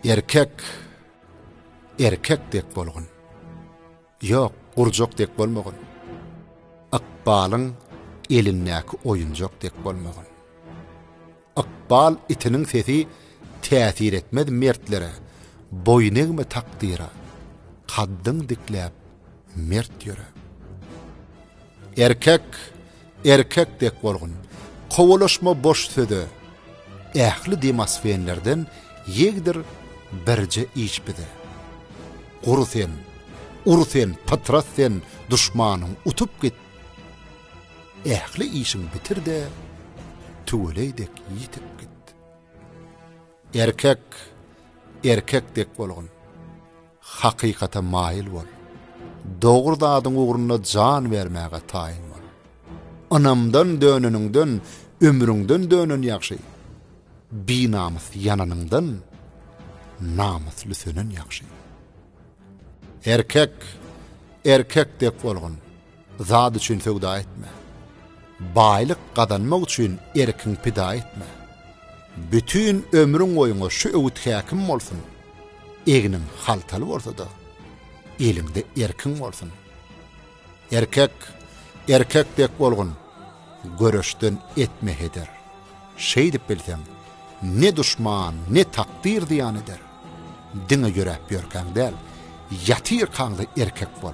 Erkek erkek dek bolgun. Ýok, gurjak dek bolmagyn. Ykbalyň elindäki oýunjak dek bolmagyn. Ykbal itiniň sesi täsir etmez mertlere, Boýun egme takdyra, kaddyň dikläp, mert ýöre. Erkek, erkek dek bolgun, kowalaşma boş söze, Ähli demosfenlerden ýegdir birje iç bize. Gur sen, ur sen, pytrat sen, duşmanyň utup git, Ähli işiňi bitir-de, tüweleý dek ýitip git. Erkek, erkek dek bolgun. Hakykata maýyl bol. Dogry zadyň ugrunda jan bermäge taýyn bol. Ynamdan döneniňden, ömrüňden dönen ýagşy. Binamys ýananyňdan, namysly sönen ýagşy. Erkek, erkek dek bolgun. Zat üçin söwda etme. Baýlyk gazanmak üçin erkiňi pida etme. Bütin ömrüň boýuňa şu öwüt häkim bolsun. Egniň haltaly bolsa-da, eliňde erkiň bolsun. Erkek, erkek dek bolgun. Göreşden etme heder. Şeýdip bilseň, ne duşman, ne takdyr zyýan eder. Diňe ýöräp ýörkäň däl, ýatyrkaň-da erkek bol.